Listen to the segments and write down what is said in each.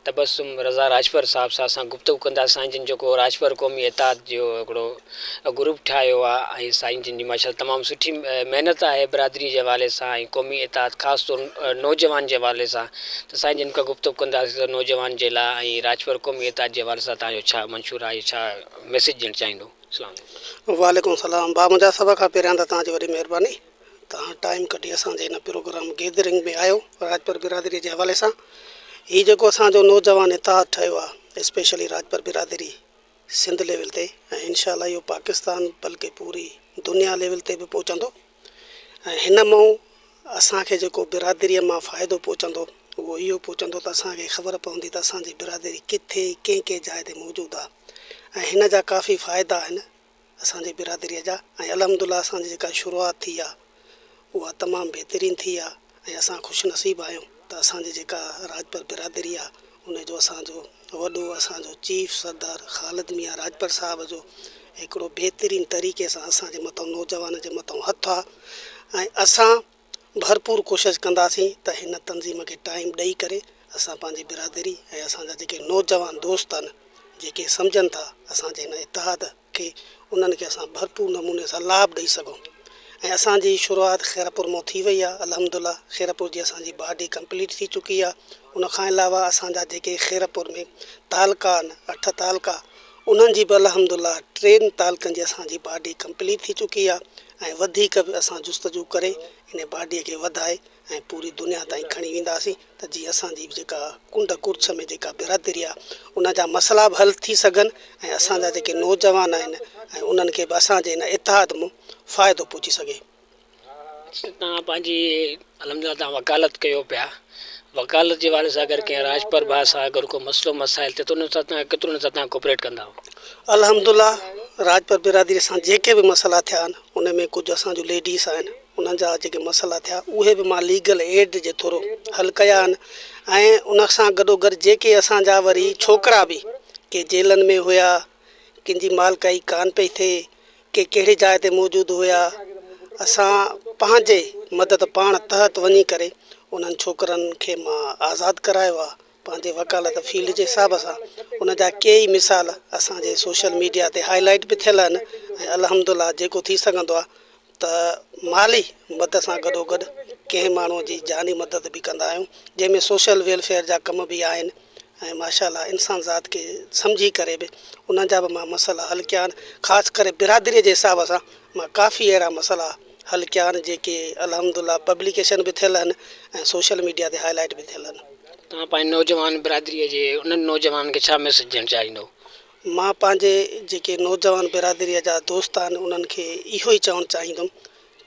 تبسم رضا راڄپر صاحب سان اسان گفتگو ڪنداسين جن جيڪو راڄپر قومي اتحاد جو هڪڙو گروپ ٺاهيو آ ۽ سائين جن جي ماشاءالله تمام سٺي محنت آهي برادري جي حوالي سان ۽ قومي اتحاد خاص طور نوجوان جي حوالي سان ته سائين جن کان گفتگو ڪنداسين ته نوجوان جي لاء ۽ راڄپر قومي اتحاد جي حوالي سان تهان جو ڇا منشور آهي ڇا ميسيج ڏيڻ چاهيندو اسلام عليڪم. وعليڪم السلام ڀاء منهنجا سڀ کان پهريان ته توهان جي وڏي مهرباني توهان ٽائيم ڪڍي اسان جي هن پروگرام گيدرنگ ۾ آيو راڄپر برادري جي حوالي سان هي جيڪو اسان جو نوجوان اتحاد ٺهيو آهي اسپيشلي راڄپر برادري سنڌ ليول تي ۽ انشاء الله اهو پاڪستان بلڪه پوري دنيا ليول تي به پهچندو ۽ هن مئو اسان کي جيڪو برادري مان فائدو پهچندو اهو اهو پهچندو ته اسان کي خبر پوندي ته اسان جي برادري ڪٿي ڪنهن ڪنهن جاء تي موجود آهي ۽ هن جا ڪافي فائدا آهن اسان جي برادريء جا ۽ الحمدالله اسان جي جيڪا شروعات ٿي آهي اها تمام بهترين ٿي آهي ۽ اسان خوش نصيب آهيون ته اسان جي جيڪا راڄپر برادري آهي ان جو اسان جو وڏو اسان جو چيف سردار خالد ميان راڄپر صاحب جو هڪڙو بهترين طريقي سان اسان جي مٿان نوجوانن جي مٿان هٿ آهي ۽ اسان ڀرپور ڪوشش ڪنداسين ته هن تنظيم کي ٽائيم ڏئي ڪري اسان پنهنجي برادري ۽ اسان جا جيڪي نوجوان دوست آهن جيڪي سمجهن ٿا اسان جي هن اتحاد کي انهن کي اسان ڀرپور نموني سان لاڀ ڏئي سگهون ۽ اسان جي شروعات خيرپور مون ٿي وئي آهي الحمدلله خيرپور جي اسان جي باڊي ڪمپليٽ ٿي چڪي آهي ان کان علاوه اسان جا جيڪي خيرپور ۾ تعلقا آهن اٺ تعلقا انهن جي به الحمد الله ٽن تعلقن جي اسان جي باڊي ڪمپليٽ ٿي چڪي آهي ۽ وڌيڪ به اسان جستجو ڪري ان باڊي کي وڌائي ۽ پوري دنيا تائين کڻي وينداسين ته جيئن اسان جي جيڪا ڪنڊ ڪڙڇ ۾ جيڪا برادري آهي ان جا مسئلا به حل ٿي سگهن ۽ اسان جا جيڪي نوجوان آهن ۽ انهن کي به اسان جي ان اتحاد مون فائدو پهچي سگهي توهان پنهنجي الم جان تان وڪالت ڪيو پيا وڪالت جي حوالي سان اگر ڪنهن راڄپر ڀاء سان اگر ڪو مسئلو مسائل ٿي ته انهن سان توهان ڪيترو انهن سان توهان ڪوپريٽ ڪندا آهو؟ الحمد الله راڄپر برادري سان جيڪي به مسئلا ٿيا آهن ان ۾ ڪجهه اسان جون ليڊيز آهن انهن جا جيڪي مسئلا ٿيا اهي به مان ليگل ايڊ جي ٿرو حل ڪيا آهن ۽ ان سان گڏو گڏ جيڪي اسان جا وري ڇوڪرا به ڪي جيلن ۾ هيا ڪن جي مالڪائي ڪانه پئي ٿئي، ڪي ڪهڙي جاء تي موجود هيا، اسان پنهنجي مدد پاڻ تحت وڃي ڪري انهن ڇوڪرن کي مان آزاد ڪرايو آ، پنهنجي وڪالت فيلڊ جي حساب سان ان جا ڪي ئي مثال اسان جي سوشل ميڊيا تي هاء لائيٽ به ٿيل آهن ۽ الحمدالله جيڪو ٿي سگهندو آ ته مالي مدد سان گڏوگڏ ڪنهن ماڻهو جي جاني مدد به ڪندا آهيون جنهن ۾ سوشل ويلفيئر جا ڪم به آهن ۽ ماشا الله انسان ذات کي سمجهي ڪري به انهن جا به مان مسئلا حل ڪيا آهن خاص ڪري برادري جي حساب سان مان ڪافي اهڙا مسئلا حل ڪيا آهن جيڪي الحمد الله پبليڪيشن به ٿيل آهن ۽ سوشل ميڊيا تي هاء لائيٽ به ٿيل آهن. توهان پنهنجي نوجوان برادريء جي انهن نوجوانن کي ڇا ميسيج ڏيڻ چاهيندؤ؟ مان پنهنجي جيڪي نوجوان برادريء جا دوست آهن انهن کي اهو ئي چوڻ چاهيندم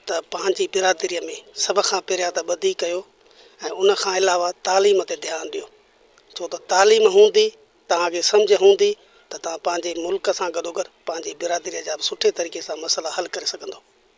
ته پنهنجي برادريء ۾ سڀ کان پهريان ته ٻڌي ڪيو ۽ ان کان علاوه تعليم تي ڌيان ڏيو ڇو ته تعليم هوندي توهان کي سمجهه هوندي ته توهان پنهنجي ملڪ سان گڏوگڏ پنهنجي برادريء جا به سٺي طريقي سان مسئلا حل ڪري سگهندو.